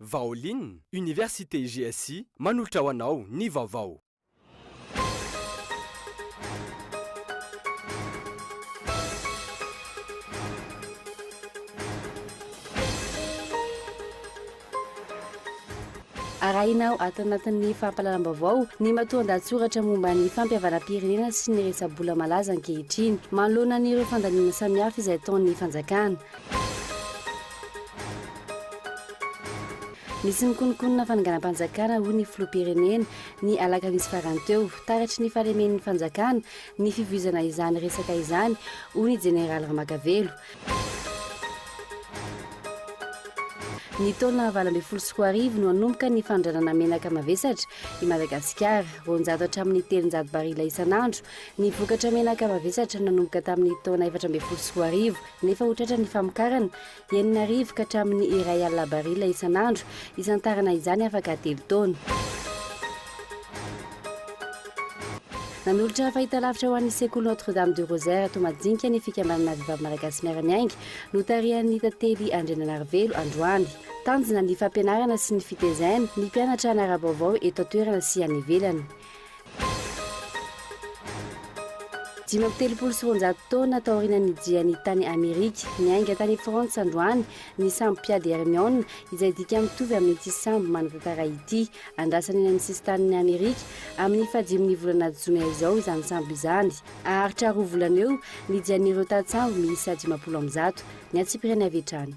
Vaolin, Université GSI manolotra ho anao ny vaovao. Arahina ato anatin'ny fampahalalam-baovao ny matoan-dahatsoratra momba ny fampihavanam-pirenena sy ny resa-bola malaza ankehitriny manoloana an'ireo fandaniana samihafa izay ataon'ny fanjakana. Nisy nikonokonona fananganam-panjakana hoy ny filoham-pirenena, ny alakamisy farany teo. Taratry ny fahalemen'ny fanjakana ny fivoizana izany resaka izany, hoy ny jeneraly Ramakavelo. Ny taona valo ambin'ny folo sy roa arivo no hanomboka ny fanondranana menaka mavesatra i Madagasikara. Roanjato hatramin'ny telonjato barila isan'andro ny vokatra menaka mavesatra nanomboka tamin'ny taona efatra ambin'ny folo sy roa arivo. nefa ho tratran'ny famokarana enina arivo ka hatramin'ny iray alina barila isan'andro izantarana izany afaka telo taona. Nanolotra fahitalavitra ho an'ny sekoly Notre Dame du Rosaire ato Majinka ny fikambanana Vehivavy Malagasy Miara-miainga notarihan'ny Tantely Andriananarivelo androany. Tanjona ny fampianarana sy ny fitezaina ny mpianatra hanara-baovao eto an-toerana sy any ivelany. Dimy amby telopolo sy roanjato taona taoriana nijiany tany Amerika, niainga tany Frantsa androany ny sambo mpiady Hermione, izay dika mitovy amin'ity sambo manakakara ity. Andrasana eny amin'ny sisin-tanin'i Amerika amin'ny fahadimin'ny volana jona izao izany sambo izany. Haharitra roa volana eo ny jian'ireo tantsambo miisa dimampolo amby zato ny antsipiriany avy hatrany.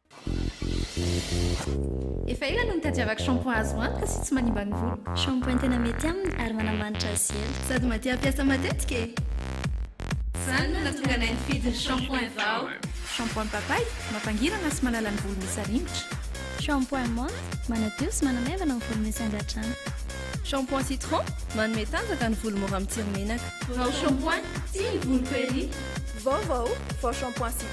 Efa ela no nitadiavako shampoing azo antoka sy tsy manimba ny voloko. Shampoing tena mety aminy ary manamanitra azy ela. Sady mba te hampiasa matetika e! Izany no nahatonga anay nifidy ny shampoing vao. Shampoing papay, mampangirana sy manala ny volo misy aringotra. Shampoing menthe, manadio sy manamaivana ny volo misy angadrano. Shampoing citron, manome tanjaka ny volo mora mitsiry menaka. Vao shampoing, tia ny voloko ery! Vaovao, vao shampoing citron.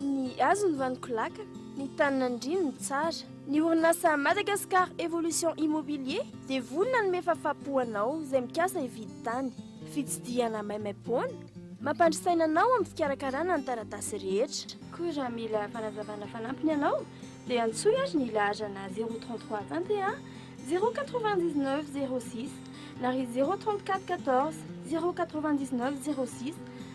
Ny hazo ny vaniko laka, ny tany nandrino ny tsara. Ny orinasa Madagascar Evolution Immobilier dia vonona hanome fafapo anao izay mikasa hividy tany. Fitsidihana maimaimpoana, mampandry saina anao amin'ny fikarakarana ny taratasy rehetra. Koa raha mila fanazavana fanampiny ianao dia antsoy ary ny laharana zéro trente trois vingt et un zéro quatre vingt dix neuf zéro six na ry zéro trente quatre quatorze zéro quatre vingt dix neuf zéro six.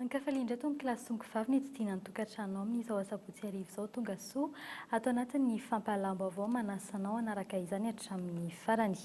Ankafaliana indray tony kilasy zongo vavy ny tsidihina ny tokantranonao amin'izao asabotsy hariva izao tonga soa ato anatin'ny fampahalalam-baovao manasa anao hanaraka izany hatramin'ny farany.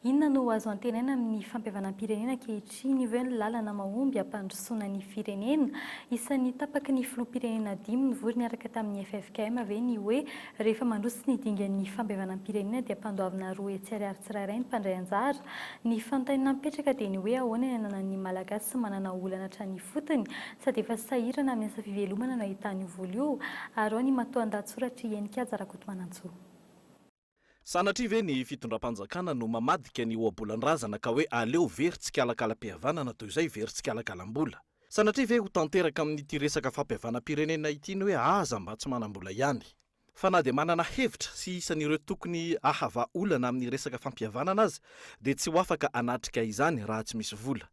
Inona no azo antenaina amin'ny fampihavanam-pirenena ankehitriny io ve ny lalana mahomby hampandrosoana ny firenena? Isan'ny tapaky ny filoham-pirenena dimy nivory niaraka tamin'ny ffkm ve ny hoe Rehefa mandroso ny dingan'ny fampihavanam-pirenena dia ampandoavina roa etsy ariary tsirairay ny mpandray anjara. Ny fanontaniana mipetraka dia ny hoe ahoana ny ananan'ny Malagasy manana olana hatrany ifotony? Sady efa sahirana amin'ny asa fivelomana no ahitany io vola io? Ary ao ny matoandahatsoratr'i Heninkaja Rakotomanantsoa. Sanatria ve ny fitondram-panjakana no mamadika ny ohabolan-drazana ka hoe aleo very tsikalakalam-pihavanana toy izay very tsikalakalam-bola? Sanatria ve ho tanteraka amin'ity resaka fampihavanam-pirenena ity ny hoe aza mba tsy manam-bola ihany? Fa na dia manana hevitra sy isan'ireo tokony hahava olana amin'ny resaka fampihavanana aza dia tsy ho afaka hanatrika izany raha tsy misy vola.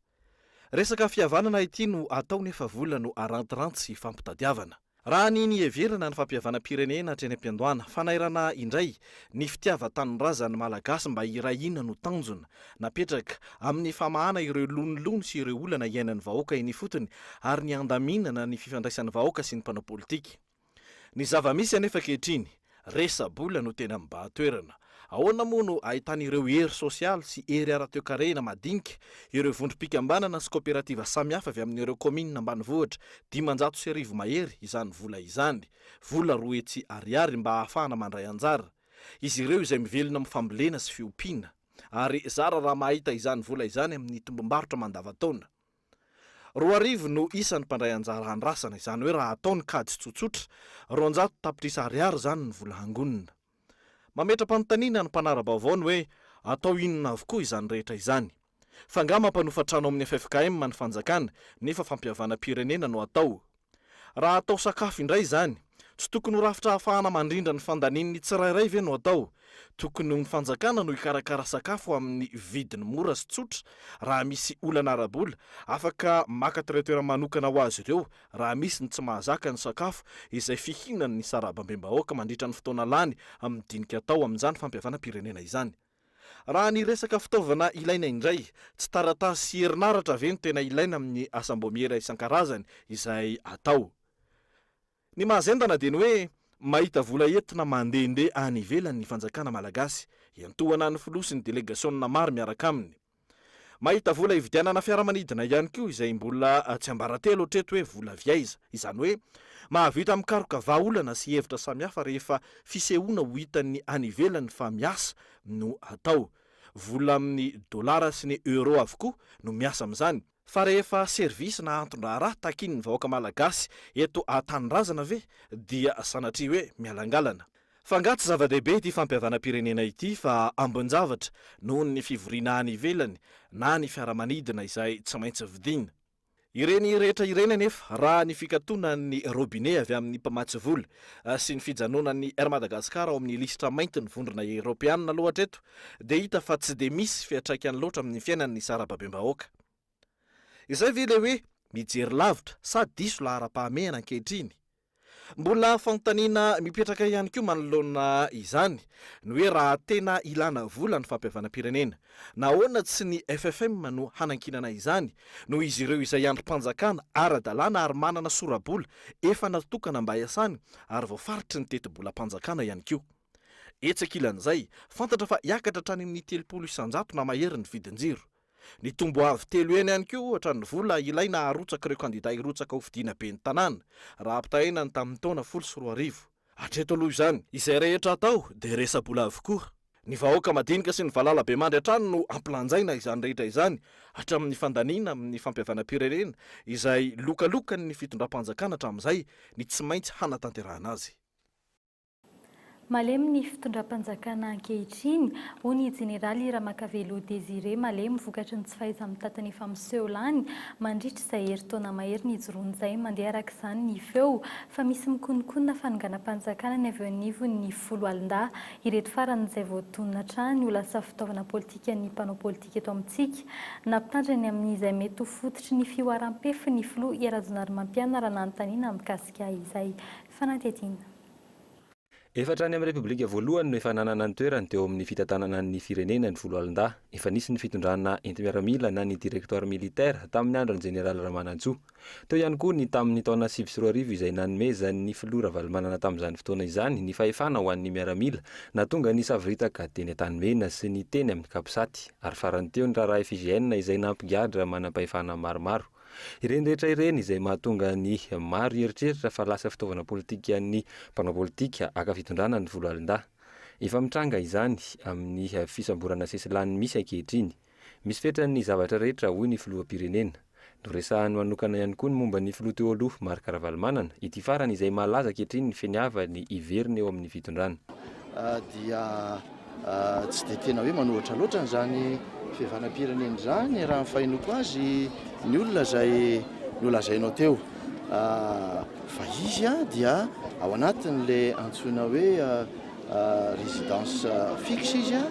Resaka fihavanana ity no atao nefa vola no arantiranty sy ifampitadiavana. Raha ny niheverana ny fampihavanam-pirenena hatreny am-piandohana, fanairana indray ny fitiavan-tanindrazan'ny Malagasy mba hiray hina no tanjona napetraka amin'ny famahana ireo lonilony sy ireo olana iainan'ny vahoaka eny ifotony ary ny handaminana ny fifandraisan'ny vahoaka sy ny mpanao politika. Ny zava-misy anefa ankehitriny Resa-bola no tena mibahan-toerana. Ahoana moa no ahitan'ireo hery sosialy sy hery ara-toekarena madinika, ireo vondrom-pikambanana sy kaoperativa samihafa avy amin'ireo kaominina ambanivohitra dimanjato sy arivo mahery izany vola izany, vola roa hetsy ariary mba ahafahana mandray anjara, izy ireo izay mivelona amin'ny fambolena sy fiompiana. Ary zara raha mahita izany vola izany amin'ny tombom-barotra mandavantaona. Roa arivo no isan'ny mpandray anjara andrasana, izany hoe raha atao ny kajy tsotsotra, roanjato tapitrisa ariary izany ny vola hangonina. Mametra-panontaniana ny mpanara-baovao ny hoe atao inona avokoa izany rehetra izany. F'angaha mampanofa trano amin'ny ffkm ny fanjakana nefa fampihavanam-pirenena no atao? Raha atao sakafo indray izany, tsy tokony ho rafitra ahafahana mandrindra ny fandanian'ny tsirairay ve no atao? Tokony ho ny fanjakana no hikarakara sakafo amin'ny vidiny mora sy tsotra raha misy olana ara-bola, afaka maka traitera manokana ho azy ireo raha misy ny tsy mahazaka ny sakafo izay fihinan'ny sarabambem-bahoaka mandritra ny fotoana lany amin'ny dinika atao amin'izany fampihavanam-pirenena izany. Raha ny resaka fitaovana ilaina indray, tsy taratasy sy herinaratra ve no tena ilaina amin'ny asam-boamiera isan-karazany izay atao? Ny mahazendana dia ny hoe mahita vola entina mandehandeha any ivelany ny fanjakana malagasy, iantohana ny filoha sy ny delegasiona maro miaraka aminy. Mahita vola hividianana fiaramanidina ihany koa izay mbola tsy ambaratelo hatreto hoe vola avy aiza. Izany hoe mahavita mikaroka vahaolana sy hevitra samihafa rehefa fisehoana ho hitan'ny any ivelany fa miasa no atao. Vola amin'ny dolara sy ny euro avokoa no miasa amin'izany. Fa rehefa service na anton-draharaha takian'ny vahoaka malagasy eto an-tanindrazana ve dia sanatria hoe mialangalana? Fa angaha tsy zava-dehibe ity fampihavanam-pirenena ity fa ambin-javatra noho ny fivoriana any ivelany na ny fiaramanidina izay tsy maintsy vidiana? Ireny rehetra ireny anefa raha ny fikatonan'ny robinet avy amin'ny mpamatsy vola sy ny fijanonan'ny Air Madagascar ao amin'ny lisitra maintin'ny vondrona eropeanina aloha hatreto dia hita fa tsy dia misy fiantraikany loatra amin'ny fiainany ny sarababem-bahoaka. Izay ve ilay hoe mijery lavitra sa diso laharam-pahamehana ankehitriny? Mbola fanontaniana mipetraka ihany koa manoloana izany ny hoe raha tena ilana vola ny fampihavanam-pirenena, nahoana tsy ny FFM no hanankinana izany noho izy ireo izay andrim-panjakana ara-dalàna ary manana sora-bola efa natokana mba hiasany ary voafaritry ny tetibolam-panjakana ihany koa. Etsy ankilan'izay, fantatra fa hiakatra hatrany amin'ny telopolo isan-jato na mahery ny vidin-jiro. Nitombo avo telo heny ihany koa ohatra ny vola ilaina harotsaka ireo kandidà hirotsaka ho fidiana ben'ny tanàna, raha ampitahaina ny tamin'ny taona folo sy roa arivo. Hatreto aloha izany, izay rehetra atao dia resa-bola avokoa. Ny vahoaka madinika sy ny valalabemandry hatrany no ampilanjaina izany rehetra izany, hatramin'ny fandaniana amin'ny fampihavanam-pirenena, izay lokalokan'ny fitondram-panjakana hatramin'izay, ny tsy maintsy hanatanterahana azy. Malemy ny fitondram-panjakana ankehitriny, hoy ny jeneraly Ramakavelo Désiré Malemy vokatry ny tsy fahaiza-mitatana efa miseho lany mandritra izay herintaona mahery nijoroany izay. Mandeha araka izany ny feo fa misy mikonokonona fanonganam-panjakana ny avy eo anivon'ny foloalindahy ireto farany izay voatonona hatrany ho lasa fitaovana politikan'ny mpanao politika eto amintsika na mpitandrina ny amin'izay mety ho fototry ny fihoaram-pefin'ny filoha Rajaonarimampianarana anontaniana mikasika izay fanadihadiana. Efa hatrany amin'ny Repoblika voalohany no efa nanana ny toerany teo amin'ny fitantanana ny firenena ny Foloalindahy. Efa nisy ny fitondrana enti-miaramila na ny Directoire militaire tamin'ny andron'ny Jeneraly Ramanantsoa. Teo ihany koa ny tamin'ny taona sivy sy roa arivo izay nanomezan'ny Filoha Ravalomanana tamin'izany fotoana izany ny fahefana ho an'ny miaramila nahatonga ny savoritaka teny Antanimena sy ny teny amin'ny Capsat ary farany teo ny raharaha FIGN izay nampigadra manam-pahefana maromaro Ireny rehetra ireny izay mahatonga ny maro hieritreritra fa lasa fitaovana politikan'ny mpanao politika haka fitondrana ny Foloalindahy. Efa mitranga izany amin'ny fisamborana sesilany misy ankehitriny. Misy fetrany ny zavatra rehetra, hoy ny filoham-pirenena. Noresahany manokana ihany koa ny momba ny filoha teo aloha Marc Ravalomanana, ity farany izay malaza ankehitriny ny finiavany hiverina eo amin'ny fitondrana. dia Tsy dia tena hoe manohitra loatra an'izany fihavanam-pirenena izany raha ny fahenoako azy ny olona izay nolazainao teo fa izy dia ao anatin'ilay antsoina hoe résidence fixe izy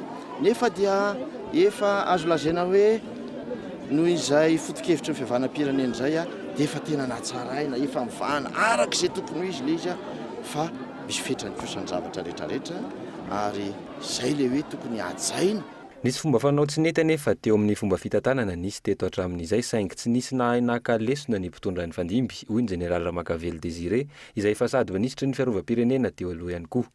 nefa dia efa azo lazaina hoe noho izay foto-kevitry ny fihavanam-pirenena izay dia efa tena natsaraina, efa mivahana araka izay tokony ho izy ilay izy fa Misy fetrany kosa ny zavatra rehetra rehetra ary izay ilay hoe tokony hajaina. Nisy fomba fanao tsy nety anefa teo amin'ny fomba fitantanana nisy teto hatramin'izay saingy tsy nisy nahay naka lesona ny mpitondra nifandimby, hoy ny Jeneraly Ramakavelo Désiré izay efa sady minisitry ny Fiarovam-pirenena teo aloha ihany koa.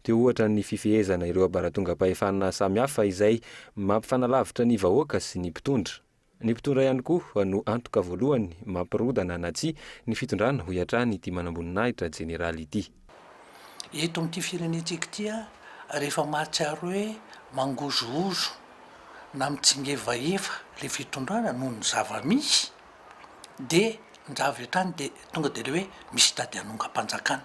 Teo ohatra ny fifehezana ireo abaratongampahefana samihafa izay mampifanalavitra ny vahoaka sy ny mpitondra. Ny mpitondra ihany koa no antoka voalohany mampirodana na tsia ny fitondrana, hoy hatrany ity manamboninahitra jeneraly ity. Eto amin'ity firenentsika ity ary efa mahatsiaro hoe mangozohozo na mitsingevaeva ilay fitondrana noho ny zava-misy dia njavy hatrany dia tonga dia ilay hoe misy tady hanongam-panjakana.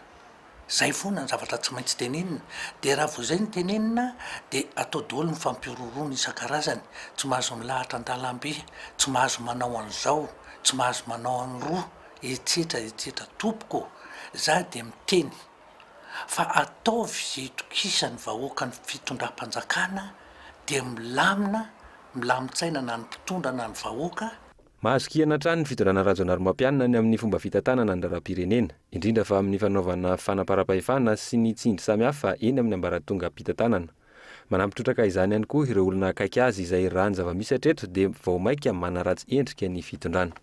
Zay foana ny zavatra tsy maintsy tenenina, dia raha vao zay no tenenina dia atao doly ny fampihorohoroana isan-karazany, tsy mahazo milahatra an-dalambe, tsy mahazo manao an'izao, tsy mahazo manao an'roa, etsetra etsetra Tompoko ô! za dia miteny fa ataovy izay itokisan'ny vahoaka ny fitondram-panjakana dia milamina, milamin-tsaina na ny mpitondra na ny vahoaka, Mahazo kiana hatrany ny fitondrana Rajaonarimampianina ny amin'ny fomba fitantanana ny raharaham-pirenena, indrindra fa amin'ny fanaovana fanamparam-pahefana sy ny tsindry samihafa eny amin'ny ambaratongam-pitantanana. Manampy trotraka izany ihany koa ireo olona akaiky azy izay raha ny zava-misy hatreto dia vao maika manaratsy endrika ny fitondrana.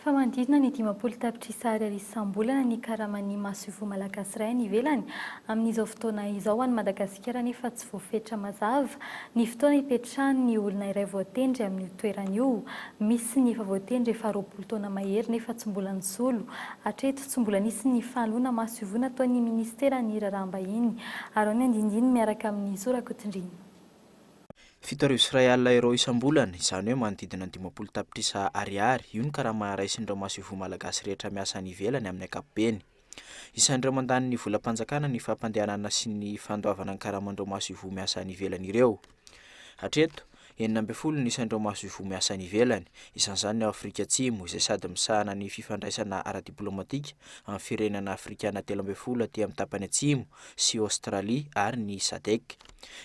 fa manodidina ny dimampolo tapitrisa ariary isam-bolana ny karaman'ny masoivoho malagasy iray any ivelany amin'izao fotoana izao. Ho an'i Madagasikara anefa tsy voafetra mazava ny fotoana hipetrahan'ny olona iray voatendry amin'io toerana io. Misy ny efa voatendry efa roapolo taona mahery nefa tsy mbola nisolo. Hatreto, tsy mbola nisy ny fanoloana masoivoho nataon'ny minisiteran'ny Raharaham-bahiny. Araho ny andindiny miaraka amin'i Zora Kotondrina. Fito arivo sy iray alina euros isam-bolana, izany hoe manodidina ny dimampolo tapitrisa Ariary, io ny karama raisin'ireo masoivoho malagasy rehetra miasa any ivelany amin'ny ankapobeny. Isan'ireo mandany ny volam-panjakana ny fampandehanana sy ny fandoavana ny karaman'ireo masoivoho miasa any ivelany ireo. Hatreto, enina ambin'ny folo no isan'ireo masoivoho miasa any ivelany, isan'izany ny ao Afrika Atsimo, izay sady misahana ny fifandraisana ara-diplaomatika amin'ny firenana afrikana telo ambin'ny folo aty amin'ny tapany atsimo, sy Aostralia ary ny Sadec.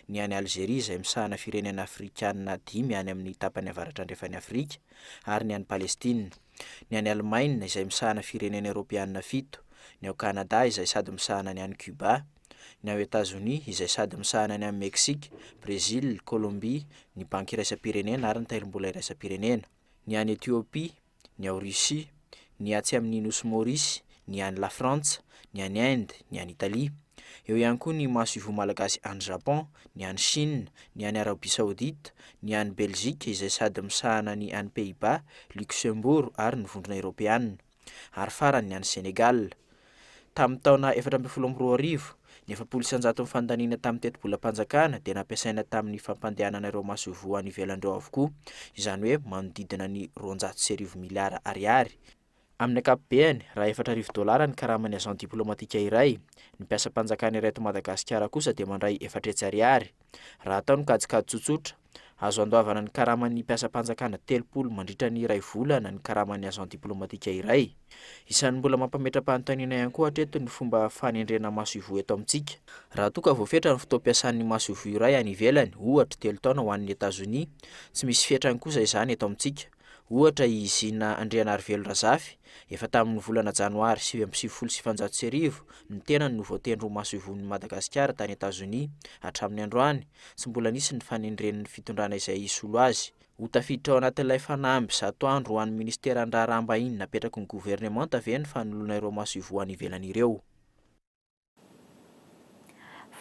ny any Alzeria izay misahana firenena afrikana dimy any amin'ny tapany avaratra andrefan'i Afrika, ary ny any Palestina, ny any Alemaina izay misahana firenena eoropeana fito, ny ao Kanada izay sady misahana ny any Cuba, ny ao Etazonia izay sady misahana ny any Meksika, Brezila, Kolombia, ny Banky Iraisam-pirenena ary ny Tairimbola Iraisam-pirenena, ny any Etiopia, ny ao Russie, ny atsy amin' ny nosy Maurice, ny any Lafrantsa, ny any Inde, ny any Italia. Eo ihany koa ny masoivoho malagasy any Japon, ny any Chine, ny any Arabia Saodita, ny any Belzika izay sady misahana ny any Pays-Bas, Luxembourg ary ny Vondrona Eorôpeana, ary farany ny any Sénégal. Tamin'ny taona efatra ambin'ny folo amby roa arivo, ny efapolo isan-jaton'ny fandaniana tamin'ny tetibolam-panjakana dia nampiasaina tamin'ny fampandehanana ireo masoivoho any ivelany ireo avokoa, izany hoe manodidina ny roanjato sy arivo miliara ariary. Amin'ny ankapobeny, raha efatra arivo dolara ny karaman'ny agent diplomatique iray, ny mpiasam-panjakana iray eto Madagasikara kosa dia mandray efatra hetsy ariary. Raha atao ny kajikajy tsotsotra, Azo andoavana ny karaman'ny mpiasam-panjakana telopolo mandritra ny iray volana ny karaman'ny agent diplomatika iray. Isan'ny mbola mampametra-panontaniana ihany koa hatreto ny fomba fanendrena masoivoho eto amintsika. Raha toa ka voafetra ny fotoam-piasan'ny masoivoho iray any ivelany, ohatra telo taona ho an'ny Etazonia, tsy misy fetrany kosa izany eto amintsika. Ohatra, i Zina Andrianarivelo Razafy, efa tamin'ny volana Janoary sivy amby sivifolo sy sivinjato sy arivo, ny tenany no voatendry ho masoivohon'i Madagasikara tany Etazonia. Hatramin'ny androany, tsy mbola nisy ny fanendren'ny fitondrana izay hisolo azy. Ho tafiditra ao anatin'ilay fanamby zato andro ho an'ny Ministeran'ny Raharaham-bahiny napetraky ny governemanta ve ny fanoloana ireo masoivoho any ivelany ireo?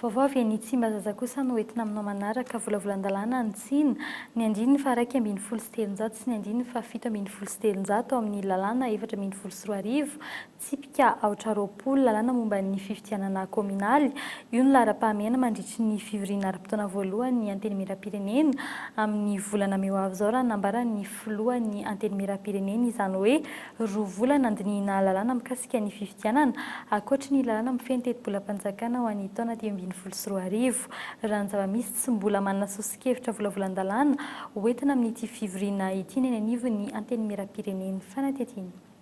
Vaovao avy eny Tsimbazaza kosa no entina aminao manaraka, volavolan-dalàna ny tsina, ny andininy faharaika ambin'ny folo sy telonjato sy ny andininy fahafito ambin'ny folo sy telonjato ao amin'ny lalàna efatra ambin'ny folo sy roa arivo, tsipika aotra roapolo, lalàna momba ny fifidianana kaominaly, io no laharam-pahamehana mandritry ny fivoriana ara-potoana voalohan'ny Antenimierampirenena amin'ny volana may ho avy izao raha nambaran'ny filohan'ny Antenimierampirenena izany hoe Roa volana handinihina lalàna mikasika ny fifidianana, ankoatry ny lalàna mifehy ny tetibolam-panjakana ho an'ny taona dimy ambin'ny folo sy roa arivo. Raha ny zava-misy, tsy mbola manana sosokevitra volavolan-dalàna ho entina amin'ity fivoriana ity ny eny anivon'ny Antenimierampirenen'ny fanadihadiana.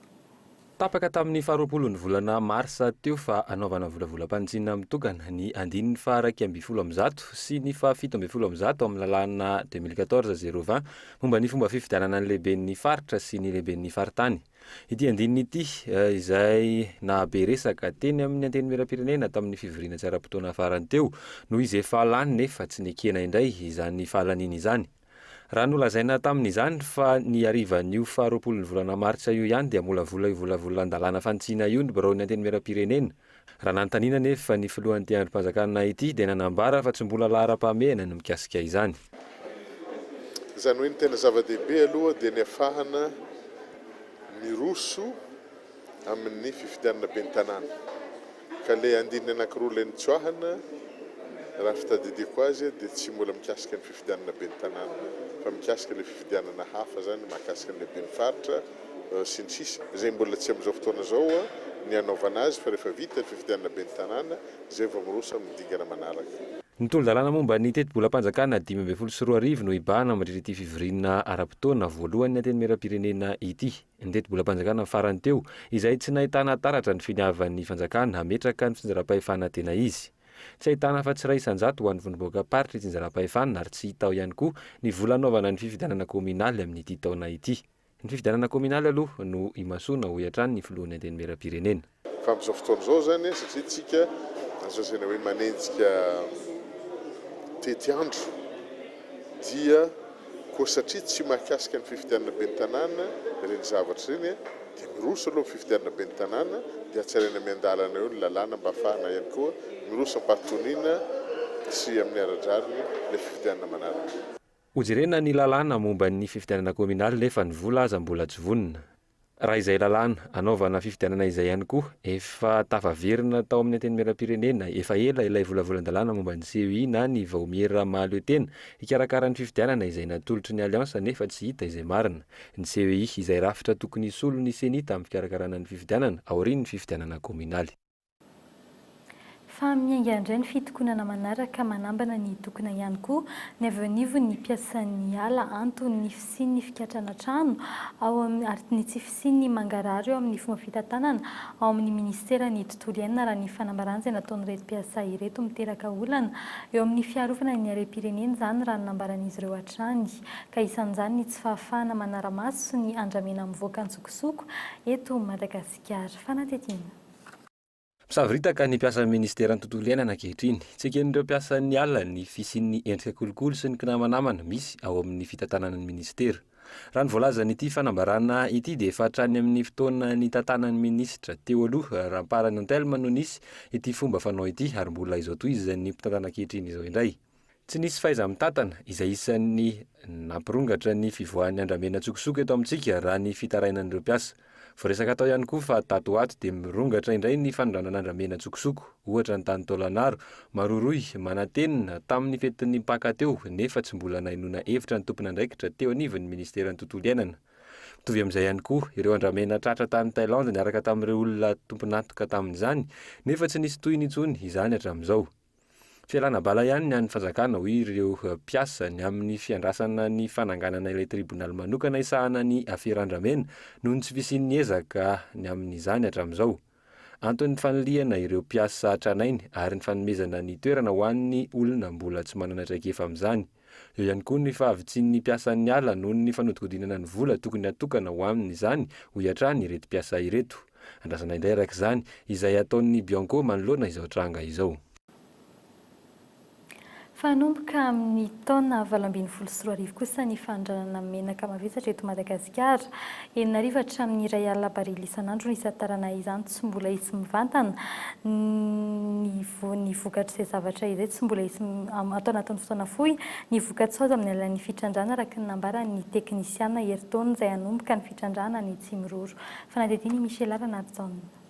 Tapaka tamin'ny faharoapolon'ny volana marsa teo fa hanaovana volavolam-panitsiana mitokana ny andininy faha iraika ambin'ny folo amby zato sy ny faha fito ambin'ny folo amby zato amin'ny lalàna deux mille quatorze zéro vingt Momba ny fomba fifidianana ny lehiben'ny faritra sy ny lehiben'ny faritany. Ity andininy ity, izay nahabe resaka teny amin'ny Antenimierampirenena tamin'ny fivoriana tsy ara-potoana farany teo, noho izy efa lany nefa tsy nekena indray izany fahalaniany izany. Raha nolazaina tamin'izany fa ny harivan'io faharoapolon'ny volana martsa io ihany dia molavola io volavolan-dalàna fanitsiana io ny biraon'ny Antenimierampirenena, Raha nanontaniana anefa ny filohan'ity andrim-panjakana ity dia nanambara fa tsy mbola laharam-pahamehana ny mikasika izany. Izany hoe ny tena zava-dehibe aloha dia ny afahana miroso amin'ny fifidianana ben'ny tanàna. Ka ilay andininy anankiroa ilay nitsoahana raha fitadidiako azy dia tsy mbola mikasika ny fifidianana ben'ny tanàna fa mikasika ilay fifidianana hafa izany mahakasika an'ilay ben'ny faritra. sy ny sisa izay mbola tsy amin'izao fotoana izao ny hanaovana azy fa rehefa vita ny fifidianana ben'ny tanàna izay vao miroso amin'ny dingana manaraka. Ny tolo-dalàna momba ny tetibolam-panjakana dimy ambin'ny folo sy roa arivo no hibahana mandritra ity fivoriana ara-potoana voalohan'ny Antenimierampirenena ity. Ny tetibolam-panjakana farany teo izay tsy nahitana taratra ny finiavan'ny fanjakana hametraka ny fitsinjaram-pahefana tena izy. Tsy ahitana afa-tsy iray isan-jato ho an'ny vondrom-bohokam-paritry itsinjaram-pahefana ary tsy hita ao ihany koa ny vola hanaovana ny fifidianana kaominaly amin'ity taona ity. Ny fifidianana kaominaly aloha no imasoana, hoy hatrany ny filohan'ny Antenimierampirenena. Fa amin'izao fotoana izao izany, satria isika izao izay hoe manenjika tetiandro, dia koa satria tsy mahakasika ny fifidianana ben'ny tanàna ireny zavatra ireny, dia miroso aloha ny fifidianana ben'ny tanàna, dia hatsaraina miandalana eo ny lalàna mba hahafahana ihany koa miroso am-pahatoniana sy amin'ny ara-drariny ilay fifidianana manaraka. Hojerena ny lalàna momba ny fifidianana kominaly nefa ny vola aza mbola tsy vonona. Raha izay lalàna anaovana fifidianana izay ihany koa efa tafaverina tao amin'ny Antenimierampirenena efa ela ilay volavolan-dalàna momba ny CEI na ny vaomiera mahaleo tena hikarakara ny fifidianana izay natolotry ny Alliance nefa tsy hita izay marina. Ny CEI izay rafitra tokony hisolo ny Ceni tamin'ny fikarakarana ny fifidianana aorian'ny fifidianana kominaly. Fa miainga indray ny fitokonana manaraka manambana ny hitokona ihany koa ny avy eo anivon' ny mpiasan' ny ala anton' ny fisian' ny fikatrana trano ao amin' ary ny tsy fisian' ny mangarahara eo amin' ny fomba fitantanana ao amin' ny Minisiteran' ny Tontolo iainana raha ny fanambarana izay nataon'ireto mpiasa ireto miteraka olana eo amin' ny fiarovana ny harem-pirenena izany raha ny nambaran' izy ireo hatrany ka isan' izany ny tsy fahafahana manara-maso sy ny andramena mivoaka an-tsokosoko eto Madagasikara fanatetiana Misavoritaka ny mpiasan'ny ministeran'ny tontolo iainana ankehitriny. Tsy eken'ireo mpiasan'ny ala ny fisian'ny endrika kolikoly sy ny kinamanamana misy ao amin'ny fitantanana ny ministera. Raha ny voalazan'ity fanambarana ity dia efa hatrany amin'ny fotoana nitantanan'ny minisitra teo aloha Ramparanontelma no nisy ity fomba fanao ity ary mbola izao tohizan'ny mpitantana ankehitriny izao indray. Tsy nisy fahaiza-mitantana, izay isan'ny nampirongatra ny fivoahan'ny andramena an-tsokosoko eto amintsika, raha ny fitarainan'ireo mpiasa. Voaresaka tao ihany koa fa tato ho ato dia mirongatra indray ny fanondranana andramena an-tsokosoko, ohatra ny tany Taolagnaro, Maroroy, Manantenina, tamin'ny fetin'ny Paka teo, nefa tsy mbola nahenoana hevitra ny tompon'andraikitra teo anivon'ny Ministeran'ny Tontolo Iainana. Mitovy amin'izay ihany koa, ireo andramena tratra tany Thailand niaraka tamin'ireo olona tompon'antoka tamin'izany, nefa tsy nisy tohiny intsony izany hatramin'izao. Fialana bala ihany ny an'ny fanjakana, hoy ireo mpiasa, ny amin'ny fiandrasana ny fananganana ilay tribonaly manokana hisahana ny afera andramena noho ny tsy fisian'ny ezaka ny amin'izany hatramin'izao. Anton'ny fanilihana ireo mpiasa tranainy ary ny fanomezana ny toerana ho an'ny olona mbola tsy manana traikefa amin'izany. Eo ihany koa ny fahavitsian'ny mpiasan'ny ala noho ny fanodikodinana ny vola tokony hatokana ho aminy izany, hoy hatrany ireto mpiasa ireto. Andrasana indray araka izany izay ataon'ny Bianco manoloana izao tranga izao. Fa hanomboka amin'ny taona valo ambin'ny folo sy roa arivo kosa ny fanondranana menaka mavesatra eto Madagasikara. Enina arivo hatramin'ny iray alina barily isan'andro no hisantarana izany. tsy mbola hisy mivantana, ny vo, ny vokatr'izay zavatra izay tsy mbola hisy am, ato anatin'ny fotoana fohy, ny vokatsoa azo amin'ny alalan'ny fitrandrahana araka ny nambaran'ny teknisiana herintaona izay hanomboka ny fitrandrahana any Tsimiroro. Fanadihadiana i Michela Ranarijaona.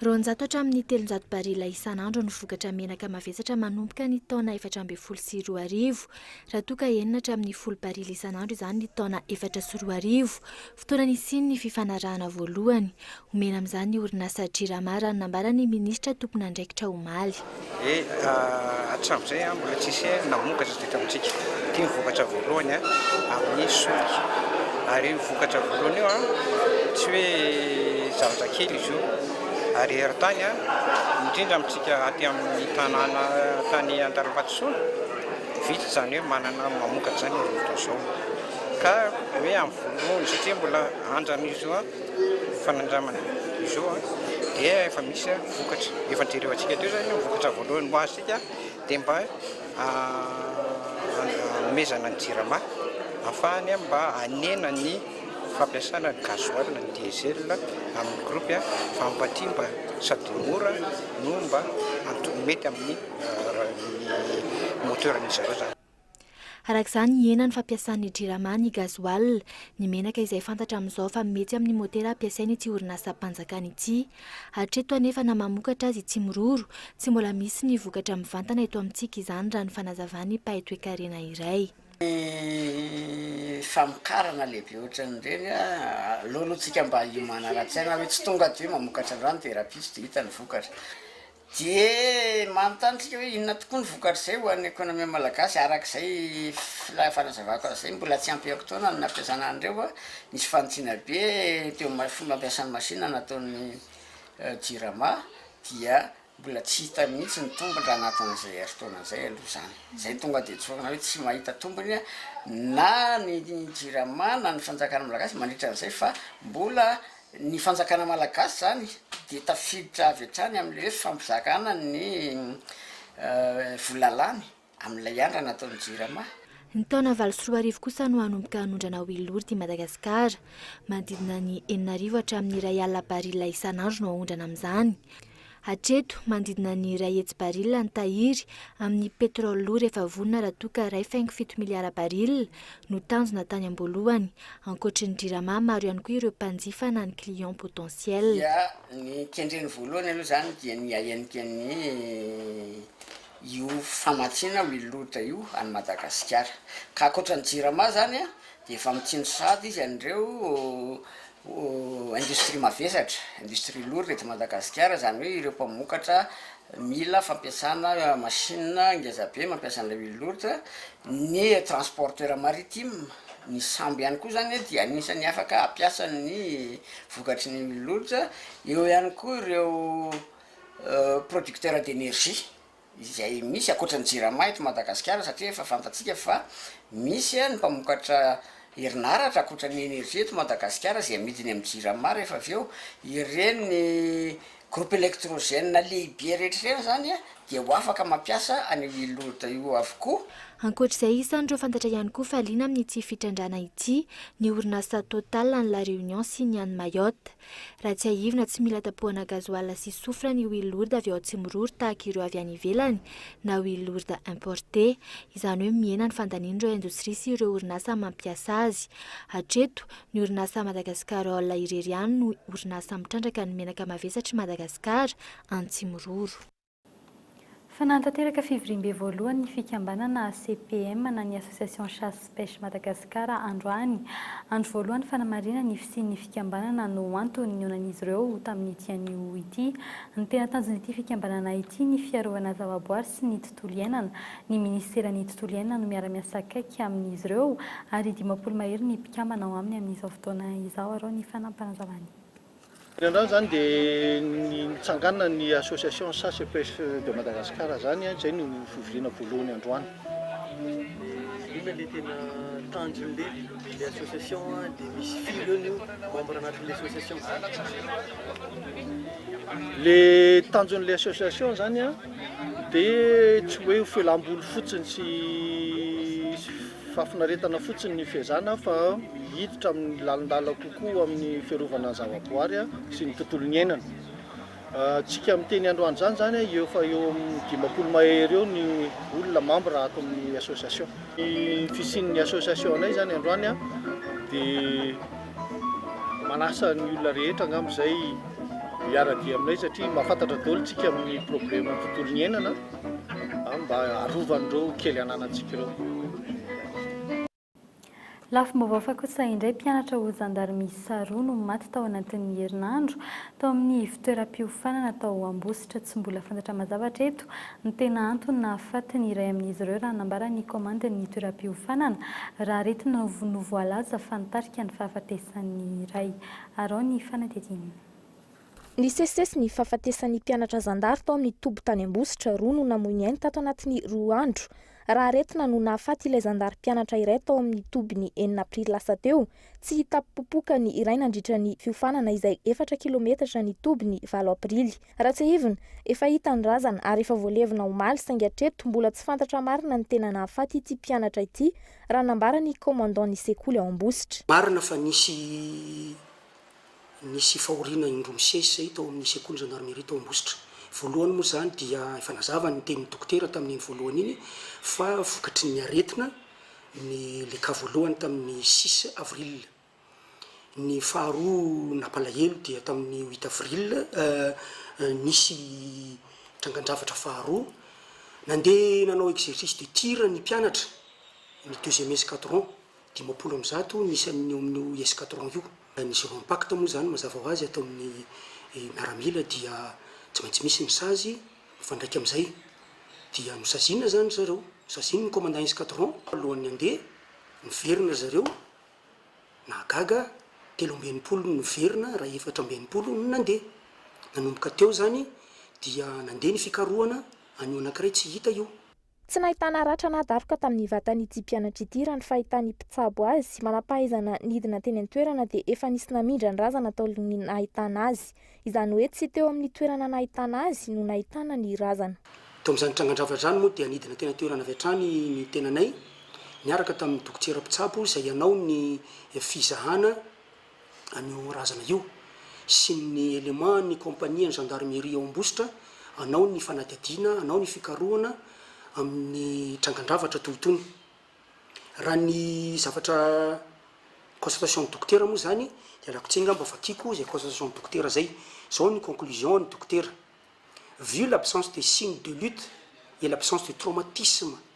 Roanjato hatramin'ny telonjato barila isan'andro ny vokatra menaka mavesatra manomboka ny taona efatra ambin'ny folo sy roa arivo, raha toa ka enina hatramin'ny folo barila isan'andro izany ny taona efatra sy roa arivo, Fotoana nisian'ny fifanarahana voalohany, omena amin'izany ny orinasa Jirama, raha ny nambaran'ny minisitra tompon'andraikitra omaly. Dia hatramin'izay mbola tsy nisy namokatra teto amintsika. Ity ny vokatra voalohany amin'ny solika. Ary io vokatra voalohany io, tsy hoe zavatra kely izy io. Ary eran-tany, indrindra amintsika aty amin'ny tanàna tany Antanimbato Sona, vitsy izany hoe manana mamokatra izany amin'izao fotoana izao. ka hoe ampovoany satria mbola andran'izy io fanandramana izy io dia efa misy vokatra efa jerevantsika teo zany vokatra voalohany ho azontsika dia mba hanomezana ny jirama afahany an mba hanena ny fampiasana ny gasoil ny diesel amin'ny groupe an fa hampatimba sady mora no mba mety amin'ny moteur-n'izy ireo zany Araka izany, hihena ny fampiasan'ny Jirama ny gasoil, ny menaka izay fantatra amin'izao fa mety amin'ny motera ampiasain'ity orinasam-panjakana ity. Hatreto anefa na mamokatra azy i Tsimiroro, tsy mbola misy ny vokatra mivantana eto amintsika izany raha ny fanazavan'ny mpahay toekarena iray. Ny famokarana lehibe ohatran'ireny, aleoloantsika mba hiomana ara-tsaina hoe tsy tonga dia hoe mamokatra an'izany dia rahampitso dia hita ny vokatra. Dia manontany isika hoe inona tokoa ny vokatr'izay ho an'ny ekonomia malagasy araka izay fanazavako azy izay, mbola tsy ampy aoka-taona ny nampiasana an'ireo, nisy fanintsiana be teo amin'ny fomba ampiasa ny masinina nataon'ny Jirama dia mbola tsy hita mihitsy ny tombony raha anatin'izay herintaona izay aloha izany. Izay tonga dia tsorina hoe tsy mahita tombony na ny Jirama na ny fanjakana malagasy mandritra an'izay fa mbola Ny fanjakana malagasy izany dia tafiditra avy hatrany amin'ilay hoe fampizarana ny vola lany amin'ilay andrana ataon'ny Jirama. Ny taona valo sy roa arivo kosa no hanomboka hanondrana ao Ilory ity Madagasikara. Manodidina ny enina arivo hatramin'ny iray alina baril isan'andro no haondrana amin'izany. Hatreto, manodidina ny iray hetsy barila ny tahiry amin'ny petrole lourd rehefa vonona raha toa ka iray faingo fito miliara barila no tanjona tany am-boalohany. Ankoatry ny Jirama, maro ihany koa ireo mpanjifa na ny clients potentiels. Dia ny kendreny voalohany aloha izany dia ny hahendrika ny io famatsiana huile lourde io any Madagasikara. Ka ankoatra ny Jirama izany dia efa mitsindry sahady izy an'ireo Ho industrie mavesatra, industrie lourde eto Madagasikara, izany hoe ireo mpamokatra mila fampiasana machine ngeza be mampiasa an'ilay huile lourde, ny transporteur maritime, ny sambo ihany koa izany dia anisan'ny afaka hampiasa ny vokatry ny huile lourde, eo ihany koa ireo producteur d'énergie. izay misy ankoatra ny jirama eto Madagasikara satria efa fantatsika fa misy ny mpamokatra herinaratra ankoatra ny energie eto Madagasikara izay amidiny amin'ny jirama rehefa avy eo ireny groupe electrogène lehibe rehetra ireny izany dia ho afaka mampiasa an'io Ilod io avokoa. Ankoatra izay isan'ireo fantatra ihany koa fa liana amin'ity fitrandrahana ity ny orinasa Total any La Réunion sy ny any Mayotte. Raha tsiahivina, tsy mila tapohana gazoala sy soufre ny huile lourde avy ao Atsimiroro tahaka ireo avy any ivelany na huile lourde importée. Izany hoe mihena ny fandanian'ireo indostria sy ireo orinasa mampiasa azy. Hatreto, ny orinasa Madagascar Oil irery ihany no orinasa mitrandraka ny menaka mavesatry Madagasikara, Antsimiroro. Fa nanatanteraka fivoriambe voalohany ny fikambanana ACPM na ny Association Chasse Pêche Madagascar androany. Andro voalohany fanamarihana ny fisian'ny fikambanana no antony nionan'izy ireo tamin'ity anio ity. Ny tena tanjon'ity fikambanana ity ny fiarovana zavaboary sy ny tontolo iainana. Ny minisiteran'ny tontolo iainana no miara-miasa akaiky amin'izy ireo ary dimampolo mahery ny mpikambana ao aminy amin'izao fotoana izao. Arao ny fanampanazavan'ny. Teny an-drano izany dia nitsanganan'ny association Chasse et Pêche de Madagascar izany, izay no fivoriana voalohany androany. Inona le tena tanjony le le association de misy firy eo nio membre anatin'ny association? Le tanjony le association izany dia tsy hoe ho felam-bolo fotsiny sy Fahafinaretana fotsiny ny fiezahana fa hiditra amin'ny lalindala kokoa amin'ny fiarovana ny zavaboary sy ny tontolo niainana. Tsika miteny androany izany izany eo fa eo amin'ny dimampolo mahery eo ny olona mambra ato amin'ny association. Ny fisian'ny association anay izany androany dia manasa ny olona rehetra angamba izay hiara-dia aminay satria mahafantatra daholo tsika amin'ny probleman'ny tontolo niainana. Mba arovan'ireo kely ananantsika ireo. Lafim-baovao hafa kosa indray, mpianatra ho zandarimista roa no maty tao anatin'ny herinandro, tao amin'ny ivon-toeram-piofanana tao Ambositra. Tsy mbola fantatra mazava hatreto ny tena antony nahafaty ny iray amin'izy ireo, raha nambaran'ny komandin'ny toeram-piofanana, raha aretina no voalaza fa nitarika ny fahafatesan'ny iray. Araho ny fanadihadiana. Nisesisesy ny fahafatesan'ny mpianatra zandary tao amin'ny toby tany Ambositra, roa no namoy ny ainy tato anatin'ny roa andro. Raha aretina no nahafaty ilay zandary mpianatra iray tao amin'ny toby ny enina aprily lasa teo, tsy hitam-popoka ny iray nandritra ny fiofanana izay efatra kilometatra ny toby ny valo aprily. Raha tsiahivina, efa hita ny razana ary efa voalevina omaly saingy hatreto mbola tsy fantatra marina ny tena nahafaty ity mpianatra ity, raha nambaran'ny commandant ny sekoly ao Ambositra. Marina fa nisy Nisy fahoriana indroa misesy izay tao amin'ny sekoly zandarimeria tao Ambositra. Voalohany moa izany dia efa nazava ny tenin'ny dokotera tamin'iny voalohany iny fa vokatry ny aretina ny le cas voalohany tamin'ny six avril. Ny faharoa nampalahelo dia tamin'ny huit avril nisy trangan-javatra faharoa. Nandeha nanao exercice de tir ny mpianatra, ny deuxième escadron. Dimampolo amby zato ny isan'ny eo amin'io escadron io. Ny zero impact moa izany mazava ho azy ataon'ny miaramila dia tsy maintsy misy ny sazy mifandraika amin'izay. Dia nosaziana izany ry zareo, nosaziany ny commandant escadron alohan'ny handeha, niverina ry zareo, nahagaga, telo amby enimpolo no niverina raha efatra amby enimpolo no nandeha. Nanomboka teo izany dia nandeha ny fikarohana an'io anankiray tsy hita io. Tsy nahitana ratra na daroka tamin'ny vatan'ity mpianatra ity raha ny fahitan'ny mpitsabo azy. Manam-pahaizana nidina teny an-toerana dia efa nisy namindra ny razana taorian'ny nahitana azy. Izany hoe tsy teo amin'ny toerana nahitana azy no nahitana ny razana. Tao amin'izany trangan-drava izany moa dia nidina teny an-toerana avy hatrany ny tenanay niaraka tamin'ny dokotera mpitsabo izay hanao ny fizahana an'io razana io sy ny éléments ny kompanian'ny gendarmerie ao Ambositra hanao ny fanadihadiana, hanao ny fikarohana amin'ny trangan-javatra toy itony. Raha ny zavatra constatation ny dokotera moa izany dia rakotsy angamba vakiako izay constatation ny dokotera izay. Izao ny conclusion ny dokotera, Vu l'absence de signe de lutte et l'absence de traumatisme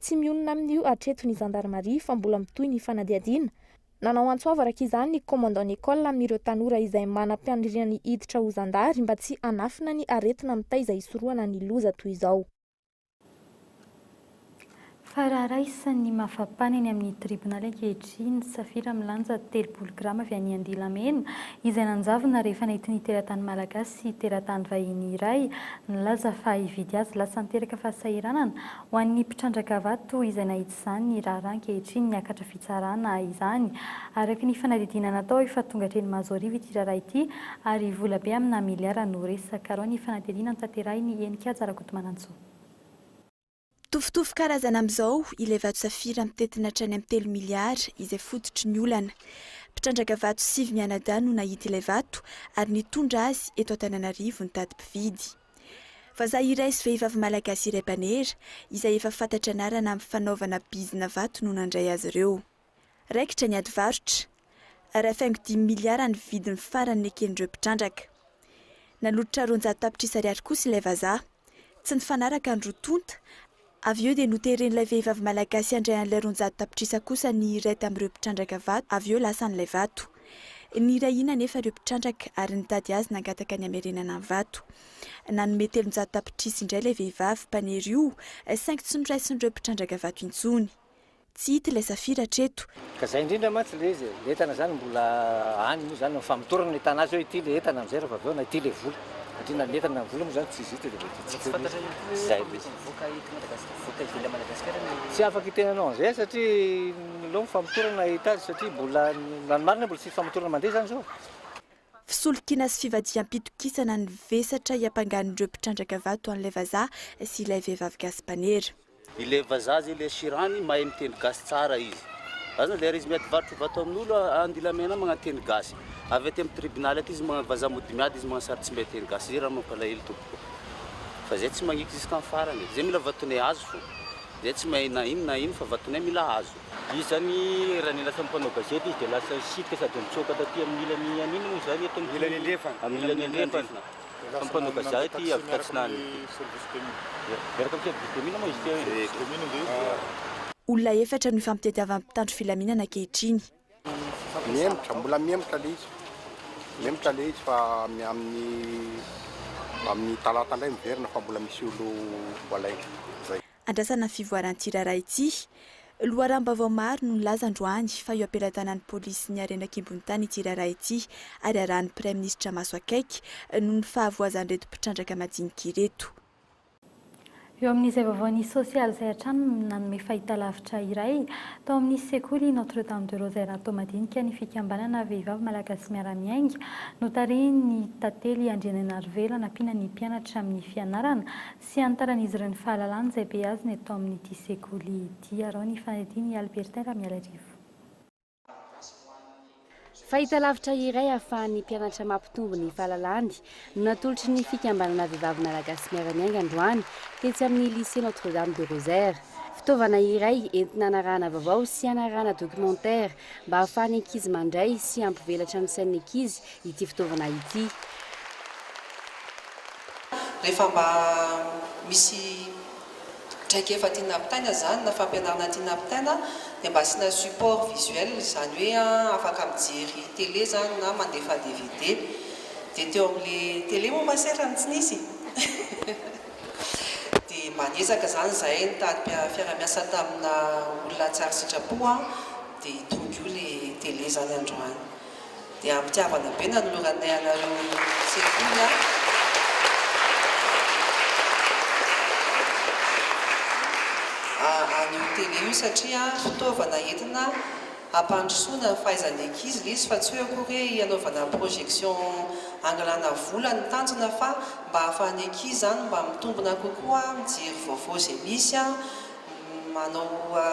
Tsy mionona amin'io hatreto ny zandarimaria fa mbola mitohy ny fanadihadiana. Nanao antso avo araka izany ny commandant Nicolle amin'ireo tanora izay manam-paniriana ny hiditra ho zandary mba tsy hanafina ny aretina mitaiza hisorohana ny loza toy izao. Fa raha raisin'ny mafapana eny amin'ny tribonaly ankehitriny ny safira milanja telopolo grama avy any Andilamena, izay nanjavona rehefa nentin'ny teratany malagasy sy teratany vahiny iray nilaza fa hividy azy lasa niteraka fahasahiranana Ho an'ny mpitrandraka vato toa izay nahitsy izany ny raharaha ankehitriny niakatra fitsarana izany. Araka ny fanadidina natao efa tonga hatreny Mazoarivo ity raharaha ity ary vola be amina miliara no resaka. Arao ny fanadihadiana notanterahiny Henikaja Rakotomanantsoa. Mitovitovy karazana amin'izao ilay vato safira mitentina hatrany amin'ny telo miliara izay fototry ny olana. Mpitrandraka vato sivy mianadahy no nahita ilay vato ary nitondra azy eto Antananarivo nitady mpividy. Vazaha iray sy vehivavy malagasy iray mpanera, izay efa fantatra anarana amin'ny fanaovana bizina vato no nandray azy ireo. Raikitra ny adivarotra. Iray faingo dimy miliara ny vidiny farany neken'ireo mpitrandraka. Nanolotra roanjato tapitrisa ariary kosa ilay vazaha. Tsy nifanaraka ny roa tonta. Avy eo dia noteren'ilay vehivavy malagasy handray an'ilay roanjato tapitrisa kosa ny iray tamin'ireo mpitrandraka vato, avy eo lasa an'ilay vato. Nirahina anefa ireo mpitrandraka ary nitady azy nangataka ny hamerenana ny vato. Nanome telonjato tapitrisa indray ilay vehivavy mpanery io saingy tsy noraisin'ireo mpitrandraka vato intsony. Tsy hita ilay safira hatreto. Ka zay indrindra mantsy le izy e, le entana zany mbola any moa zany, famotorana ny entana azy hoe ity le entana amizay rehefa avy eo na ity le vola, satria na ny entana na ny vola moa zany tsy izy ity de mety hitsika eo le izy, zay le izy. Tsy afaka hiteny anao anizay aho satria aleo ny famotorana hita azy satria mbola, na ny marina mbola tsy misy famotorana mandeha zany zao e. Fisolokiana sy fivadiham-pitokisana ny vesatra hiampangan'ireo mpitrandraka vato an'ilay vazaha sy ilay vehivavy gasy mpanera. Ilay vazaha zay ilay shirani mahay miteny gasy tsara izy Aza andeha ary izy miady varotra vato amin'olo andilamena magnanteny gasy Avy aty am tribunaly aty izy magna vazaha mody miady izy magna sary tsy mahay teny gasy Zay raha mampalahelo tompoko Fa zay tsy magniky jusqu'am farany e Zay mila vatonay azo fo Zay tsy mahay na ino na ino fa vatonay mila azo. Izy zany raha ny lasa mpanao gazety izy dia lasa sitrika sady nitsoaka taty amin'ny ilany an'inona moa izany eto amin'ny ilany andrefana. Samy mpanoka zah ity avy tatsinanana ity. Miaraka amin'ny service de mine moa izy ity eo e. Commune ve izy? Olona efatra no ifampitadiavan'ny mpitandro filaminana ankehitriny. Mihemotra, mbola mihemotra ilay izy. Mihemotra ilay izy fa amin'ny amin'ny talata indray miverina fa mbola misy olo voalaina. Izay. Andrasana ny fivoaran'ity raharaha ity. Loharanom-baovao maro no nilaza androany fa eo am-pelatanan'ny polisy sy ny harena an-kibon'ny tany ity raharaha ity ary arahin'ny praiminisitra maso akaiky noho ny fahavoazan'ireto mpitrandraka madinika ireto. Eo amin'izay vaovao nisy sosialy izay hatrany no nanome fahitalavitra iray tao amin'ny sekoly Notre Dame de Rose Erato madinika ny fikambanana Vehivavy Malagasy Miara-Miainga notarihin'ny Tantely Andrianainarivelo hanampiana ny mpianatra amin'ny fianarana Tsy hanitaran'izy ireo ny fahalalana izay beazina eto amin'ity sekoly ity. Araho ny fanadihadian' i Albertin Ramialarivo. Fahitalavitra iray ahafahan'ny mpianatra mampitombo ny fahalalany no natolotry ny Fikambanana Vehivavy Malagasy Miara-Miainga androany tetsy amin'ny Lycée Notre-Dame du Rosaire. Fitaovana iray entina hanarahana vaovao sy hanarahana documentaire mba hahafahan'ny ankizy mandray sy hampivelatra ny sain'ny ankizy ity fitaovana ity. Rehefa mba misy traikefa tiana hampitaina izany na fampianarana tiana hampitaina dia mba asiana support visuel izany hoe afaka mijery télé izany na mandefa dvd dia teo amin'ilay télé moa va sera no tsy nisy dia mba niezaka izany izahay nitady mpiara-miasa tamina olona tsara sitrapo dia tony koa ilay télé izany androany. Dia am-pitiavana be nanoloranay anareo sekoly aho. An'io tele io satria fitaovana entina hampandrosoana ny fahaizan'ny ankizy ilay izy fa tsy hoe akory hoe hanaovana projection hangalana vola no tanjona fa mba hahafahan'ny ankizy izany mba mitombina kokoa mijery vaovao izay misy manao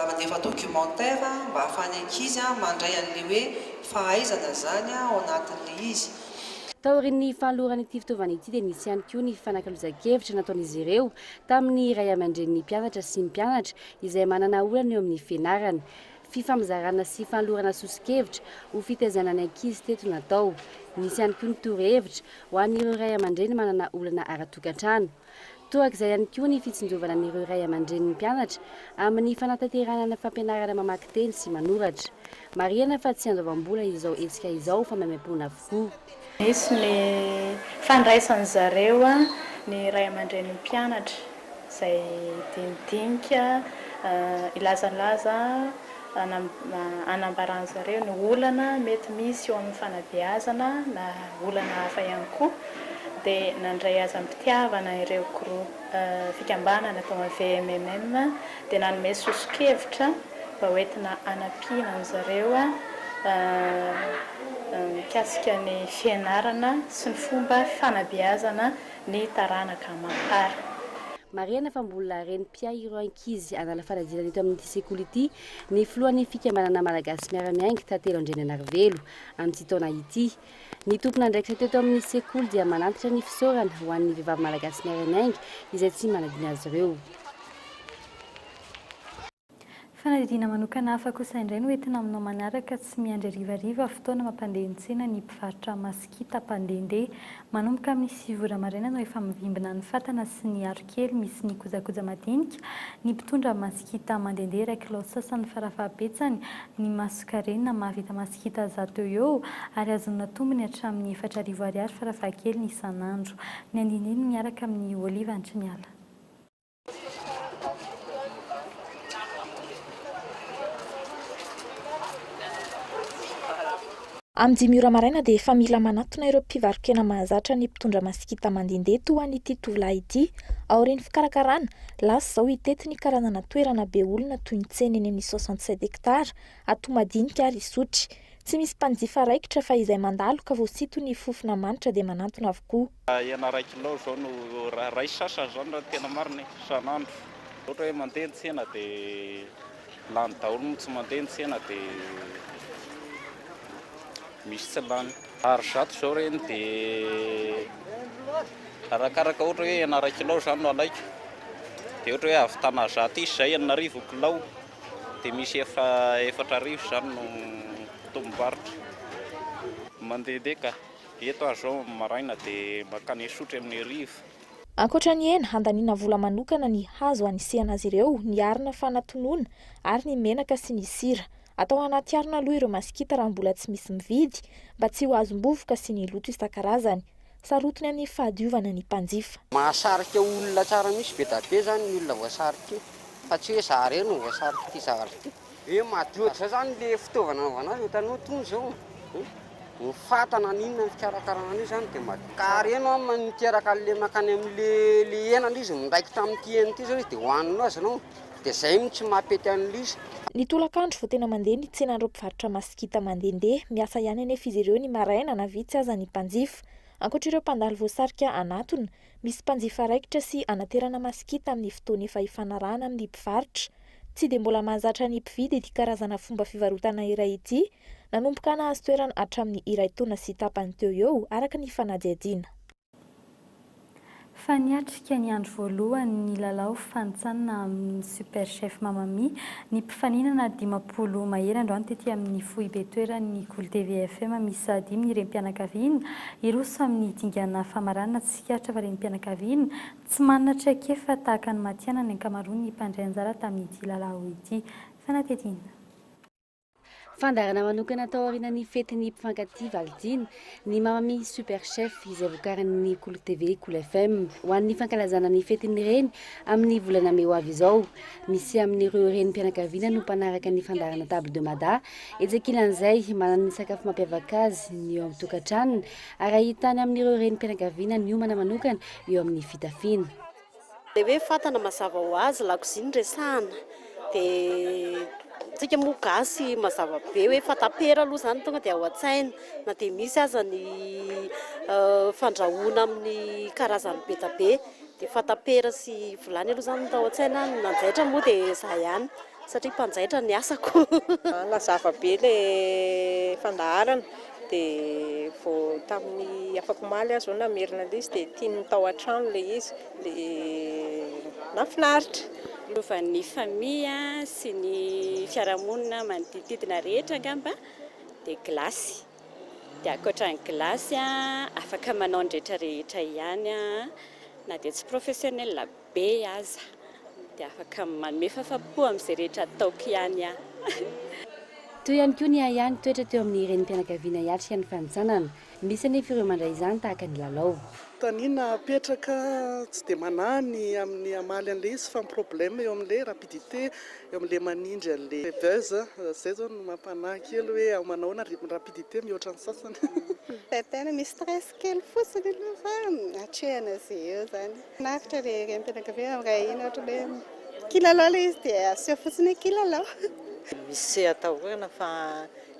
mandefa documentaire mba ahafahan'ny ankizy mandray an'ilay hoe fahaizana izany ao anatin'ilay izy. Taorian'ny fanoloran'ity fitaovana ity dia nisy ihany koa ny fanakalozan-kevitra nataon'izy ireo tamin'ny ray aman-drenin'ny mpianatra sy mpianatra izay manana olana eo amin'ny fianarana. Fifampizarana sy fanolorana soso-kevitra ho fitaizana ny ankizy teto natao. Nisy ihany koa ny torohevitra ho an'ireo ray aman-dreny manana olana ara-tokantrano. Torak'izay ihany koa ny fitsinjovana an'ireo ray aman-drenin'ny mpianatra amin'ny fanatanterahana ny fampianarana mamaky teny sy manoratra. Marihana fa tsy handoavam-bola izao hetsika izao fa maimaimpoana avokoa. Nisy ny fandraisan-dry zareo ny ray aman-drenin'ny mpianatra izay dinidinika hilazalaza. Anambaran'izy ireo ny olana mety misy eo amin'ny fanabeazana na olana hafa ihany koa dia nandray azy am-pitiavana ireo fikambanana tao amin'ny VMMM dia nanome soso-kevitra mba ho entina hanampiana an'izy ireo mikasika ny fianarana sy ny fomba fanabeazana ny taranaka aman-tsara. Marihana fa mbola reny mpiahy ireo ankizy hanala fanadinana eto amin'ity sekoly ity ny filohan'ny fikambanana Malagasy Miara-miainga tantely Andriananarivelo amin'ity taona ity. Ny tompon'andraikitra teto amin'ny sekoly dia manantitra ny fisaorana ho an'ny vehivavy Malagasy Miara-miainga izay tsy manadino azy ireo. Fanadihadiana manokana hafa kosa indray no entina aminao manaraka, tsy miandry harivariva, fotoana mampandeha ny tsena ny mpivarotra masikita mpandehandeha. Manomboka amin'ny sivy ora maraina no efa mivimbina ny fatana sy ny arokely misy ny kojakoja madinika ny mpitondra masikita mandehandeha iray kilao sasany farafahabetsany ny masonkarena mahavita masikita zato eo eo ary azonina tombony hatramin'ny efatra arivo ariary farafahakeliny isan'andro. Ny andinindiny miaraka amin'ny oliva antriniala. Amin'ny dimy ora maraina dia efa mila manatona ireo mpivaro-kena mahazatra ny mpitondra masikita mandende toa an'ity tovolahy ity. Aorian'ny fikarakarana, lasa izao hitety ny karazana toerana be olona toy ny tsena eny amin'ny soixante sept hectares, ato madinika ary isotry. Tsy misy mpanjifa raikitra fa izay mandalo ka vao sinton'ny fofona manitra dia manantona avokoa. Hena iray kilao izao no, iray sasany izany raha ny tena marina e, isan'andro. Ohatra hoe mandeha ny tsena dia lany daholo no tsy mandeha ny tsena dia misy tsy lany. Ar zato izao ireny dia arakaraka ohatra hoe hena iray kilao izany no alaiko dia ohatra hoe hahavitana zato isa izay, enina arivo ny kilao dia misy efa efatra arivo izany no tombom-barotra mandehandeha ka. Eto aho izao amin'ny maraina dia mankany Isotry amin'ny hariva. Ankoatra ny hena, handaniana vola manokana ny hazo hanisihana azy ireo, ny arina fanatonona, ary ny menaka sy ny sira. Atao anaty harona aloha ireo masikita raha mbola tsy misy mividy, mba tsy ho azom-bovoka sy ny loto isan-karazany. Sarotiny amin'ny fahadiovana ny mpanjifa. Mahasarika olona tsara mihitsy be dia be izany ny olona voasarika io, fa tsy hoe za irery no voasarika ity zavatra ity. He madio ohatr'izay zany le fitaovana anaovana azy, hitanao itony zao eh, ny fata na ny inona ny fikarakarana an'io zany dia madio tsara. Ka reno an niteraka an'le mankany amin'le le henany izy midraiky tamin'ity hena ity zao izy dia hohaninao azy ianao dia zay mihitsy tsy mampety an'le izy. Ny tolakandro vao tena mandeha ny tsenan'ireo mpivarotra masikita mandehandeha, miasa ihany anefa izy ireo ny maraina na vitsy aza ny mpanjifa. Ankoatr'ireo mpandalo voasarika hanatona, Misy mpanjifa raikitra sy hanaterana masikita amin'ny fotoana efa ifanarahana amin'ny mpivarotra. Tsy dia mbola mahazatra ny mpividy ity karazana fomba fivarotana iray ity, nanomboka nahazo toerana hatramin'ny iray taona sy tapany teo ho eo, araka ny fanadihadiana. Fa niatrika ny andro voalohany ny lalao fanintsanina amin'ny Super Chef Mamma Mia Ny mpifaninana dimampolo mahery androany tety amin'ny foibe toeran'ny Gul TV FM miisa dimy ny renim-pianakaviana, hiroso amin'ny dingana famaranana tsikaritra fa renim-pianakaviana tsy manana traikefa tahaka ny matihanina ny ankamaroan'ny mpandray anjara tamin'ity lalao ity. Fanatetiana. Fandaharana manokana tao aorianan'ny fetin'ny mpifankatia Valentine, ny Mamami Super Chef izay vokarin'ny Kolo TV, Kolo FM. Ho an'ny fankalazana ny fetin'ny reny amin'ny volana mey ho avy izao. Misy amin'ireo renim-pianakaviana no mpanaraka ny fandaharana Table de Mada. Etsy ankilan'izay, manana ny sakafo mampiavaka azy ny eo amin'ny tokantranony ary ahitana amin'ireo renim-pianakaviana niomana manokana eo amin'ny fitafiana. Ilay hoe fatana mazava ho azy lakozia no resahana dia isika moa gasy mazava be hoe fatapera aloha izany tonga dia ao an-tsaina na dia misy aza ny fandrahoana amin'ny karazany be dia be dia fatapera sy vilany aloha izany no tao an-tsaina, ny nanjaitra moa dia izaho ihany. Satria mpanjaitra ny asako. Nazava be ilay fandaharana dia vao tamin'ny afak'omaly aho izao namerina ilay izy dia tian'ny tao an-trano ilay izy dia nahafinaritra. Lovan'ny famille sy ny fiarahamonina manodidididina rehetra angamba dia glace. Dia ankoatra ny glace afaka manao ny rehetra rehetra ihany aho na dia tsy professionnel aza. be aza dia afaka manome fafapo amin'izay rehetra ataoko ihany aho. Teo ihany koa ny ahy ahy nitoetra teo amin'ny renim-pianakaviana hiatrika ny fanintsanana. Misy anefa ireo mandray izany tahaka ny lalao. Tanina apetraka tsy dia manahy ny amin'ny hamaly an'ilay izy fa ny problème eo amin'ilay rapidité, eo amin'ilay manindry an'ilay buzz. Izay izao no mampanahy kely hoe ao manahoana ny rythme rapidité mihoatra ny sasany. Tantana misy stress. Kely fotsiny aloha fa atrehina izay eo izany. Maharitra ilay renim-pianakaviana amin'ny ray ahiana ohatra hoe kilalao ilay izy dia aseho fotsiny hoe kilalao. Misy atahorana fa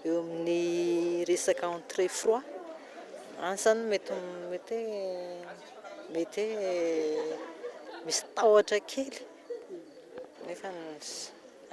eo amin'ny resaka entrée froid any izany mety mety hoe mety hoe misy tahotra kely nefa.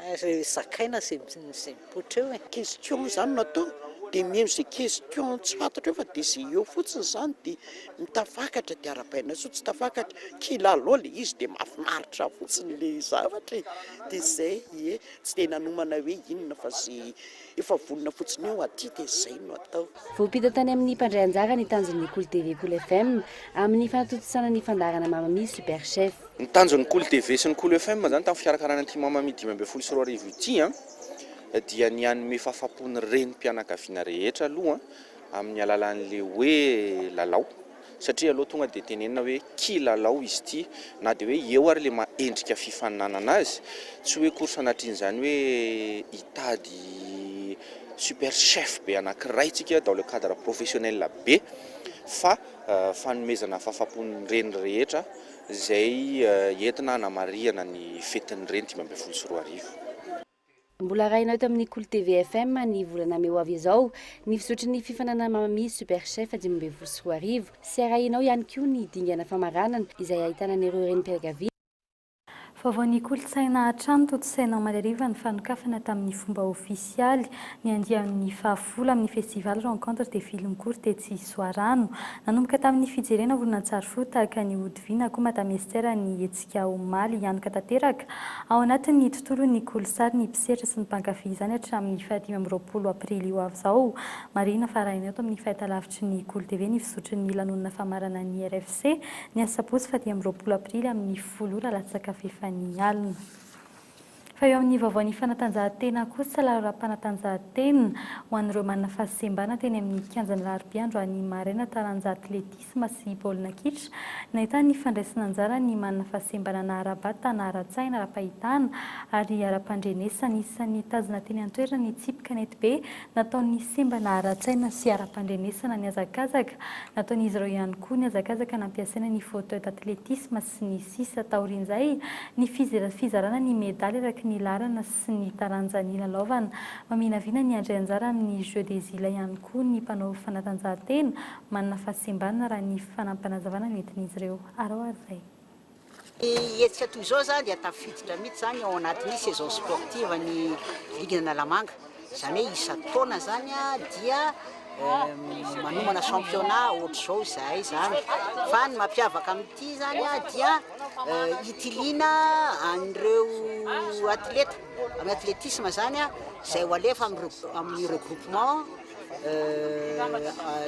Ary zakaina ze mipoitra eo e! Question zany no atao dia mino ze question tsy fantatra eo fa dia ze eo fotsiny zany dia mitafakatra dia arabaina soa tsy tafakatra kilalao le izy dia mafinaritra fotsiny le zavatra e! dia zay ie! tsy dia nanomana hoe inona fa ze Efa vonona fotsiny eo aty dia izay no atao. Voampita tany amin'ny mpandray anjara ny tanjon'ny Cool TV Cool FM amin'ny fanatontosana ny fandaharana Mamma Mia Super Chef. Ny tanjon'ny Cool TV sy ny Cool FM izany tamin'ny fikarakarana ity Mamma Mia dimy ambin'ny folo sy roa arivo ity dia ny hanome fahafaham-po ny renim-pianakaviana rehetra aloha amin'ny alalan'ilay hoe lalao. Satria alou tonga dia tenenina hoe kilalao izy ity, na dia hoe eo ary ilay maha endrika fifaninanana azy, tsy hoe course anatrin'izany hoe hitady super chef be anankiray tsika dans le cadre professionnel be fa fanomezana fahafahampon'ny reny rehetra izay entina hanamarihana ny fetin'ny reny dimy ambin'ny folo sy roa arivo. Mbola arahina eto amin'ny Kolo TV FM ny volana mey ho avy izao ny fizotry ny fifaninanana Mamamia Super Chef dimy ambin'ny folo sy roa arivo sy arahina ao ihany koa ny dingana famaranana izay ahitana an'ireo renim-pianakaviana Vaovaon'ny kolontsaina hatrany, tontosaina omaly hariva ny fanokafana tamin'ny fomba ofisialy ny andiany fahafolo amin'ny Festival Rencontres des Films Courts tetsy Soarano. Nanomboka tamin'ny fijerena horonantsary fohy tahaka an'i Hodiviana koa Madame Esther ny etsy. dia omaly hianoka tanteraka ao anatin'ny tontolon'ny kolosary ny mpisehatra sy ny mpankafy izany hatramin'ny fahadimy amby roapolo aprily ho avy izao. Marihina fa arahina eto amin'ny fahitalavitry ny Gol TV ny fizotry ny lanonana famarana ny RFC, ny asabotsy fahadimy amby roapolo aprily amin'ny folo ora latsaka fahefany alina. Fa eo amin'ny vaovaon'ny fanatanjahantena kosa, lalao-ara-panatanjahantena ho an'ireo manana fahasembana teny amin'ny kianjan'i Raribia androany maraina taranja atletisma sy baolina kitra, nahitana ny fandraisana anjara ny manana fahasembana na ara-batana, ara-tsaina, ara-pahitana ary ara-pandrenesana. Isan'ny nitazona teny an-toerana ny tsipy kanetibe nataon'ny sembana ara-tsaina sy ara-pandrenesana nihazakazaka. Nataon'izy ireo ihany koa ny hazakazaka nampiasaina ny fauteuil d'athlétisme sy ny sisa Taorian'izay, ny fizarana ny medaly araky ny laharana sy ny taranja nilalaovana. Maminavina ny handray anjara amin'ny Jeux des Îles ihany koa ny mpanao fanatanjahantena manana fahasimbana raha ny fanampim-panazavana nentin'izy ireo. Araho ary izay. Ny hetsika toy izao izany dia tafiditra mihitsy izany ao anatin'ny saison sportive an'ny Ligue Analamanga. Izany hoe isan-taona zany dia manomana championnat ohatr'izao izahay izany, fa ny mampiavaka amin'ity zany dia hitiliana an'ireo atleta amin'ny athlétisme zany izay ho alefa amin'ny regroupement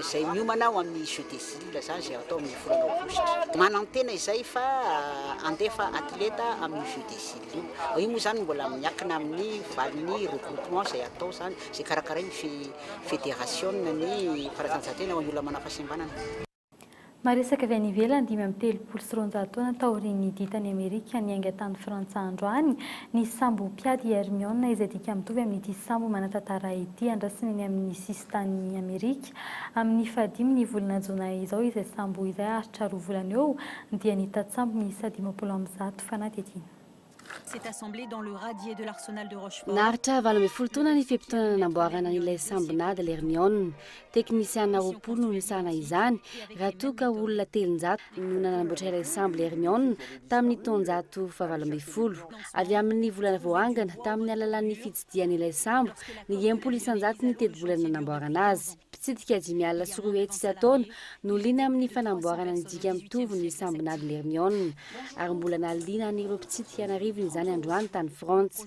izay miomana ho amin'ny jeux des îles izany izay atao amin'ny volana aogositra. Manantena izay fa handefa atleta amin'ny jeux des îles. Fa io moa izany mbola miankina amin'ny valin'ny regroupement izay atao izany, izay karakarain'ny fe federasiona ny fanatanjahantena ho an'ny olona manana fahasembanana. Maresaka avy any ivelany Dimy amby telopolo sy roanjato taona taorian'ny Didy tany Amerika niainga tany Frantsa androany ny sambo mpiady i Hermione izay dika mitovy amin'ity sambo manan-tantara ity andrasana eny amin'ny tany Amerika. Amin' ny fahadimy ny volana Jona izao izay sambo izay haharitra roa volana eo dia nita tsambo miisa dimampolo amby zato fanadihadiana. Naharitra valo ambin'ny folo taona ny fe-potoana nanamboarana an' ilay sambon'ady L'Hermione. Teknisiana roapolo no nisahana izany raha toa ka olona telonjato no nanamboatra ilay sambo Hermione tamin'ny taonjato fahavalo ambin'ny folo. Avy amin'ny volana voangana tamin'ny alalan'ny fitsidihana ilay sambo, ny enim-polo isan-jato ny tetibola nanamboarana azy. Mpitsidika dimy alina sy roa hetsy isan-taona no liana amin'ny fanamboarana ny dika mitovy ny sambon'adin'i Hermione, ary mbola nahaliana an'ireo mpitsidika an'arivony izany androany tany Frantsa.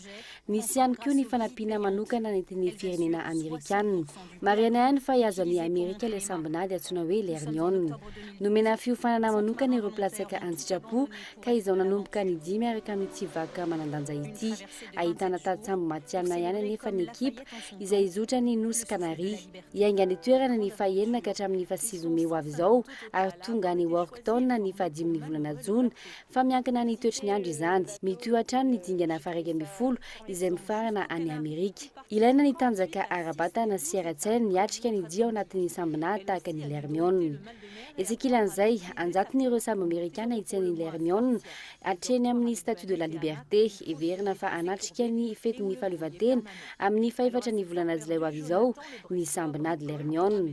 Nisy ihany koa ny fanampiana manokana nentin'ny firenena amerikanina. Marihana ihany fa i Azami Amerika ilay sambon'ady antsoina hoe Lernion. Nomena fiofanana manokana ireo mpilatsaka an-tsitrapo ka izao nanomboka ny dia miaraka amin'ity vakoka manan-danja ity. Ahitana tantsambo matihanina ihany anefa ny ekipa izay hizotra ny Nosy Kanary. Hiainga any an-toerana ny fahenina ka hatramin'ny fahasivy mey ho avy izao ary tonga any Warkton ny fahadimy ny volana jona Fa miankina ny toetry ny andro izany. Mitohy hatrany ny dingana faharaika ambin'ny folo izay mifarana any Amerika. Ilaina ny tanjaka ara-batana sy ara-tsaina miatrika ny dia ao anatin'ny sambonà tahaka ny Lermiona. Etsy ankilan'izay, an-jatony ireo sambo amerikàna etsy an'i Lermiona, hatreny amin'ny Statue de la Liberté, heverina fa hanatrika ny fetin'ny fahaleovantena amin'ny fahefatra ny volana jolay ho avy izao ny sambonà de Lermiona.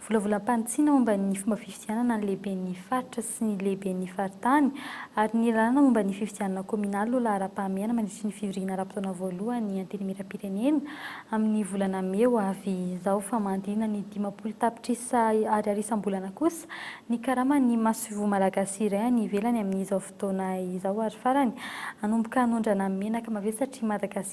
Volavolam-panitsiana momba ny fomba fifidianana ny lehiben'ny faritra sy ny lehiben'ny faritany ary ny lalàna momba ny fifidianana kaominaly no laharam-pahamehana mandritry ny fivoriana ara-potoana voalohan'ny Antenimierampirenena amin'ny volana mey ho avy izao fa mandina ny dimampolo tapitrisa Ariary isam-bolana kosa ny karaman'ny masoivoho malagasy iray any ivelany amin'izao fotoana izao ary farany hanomboka hanondrana menaka mavesatra i Madagasikara.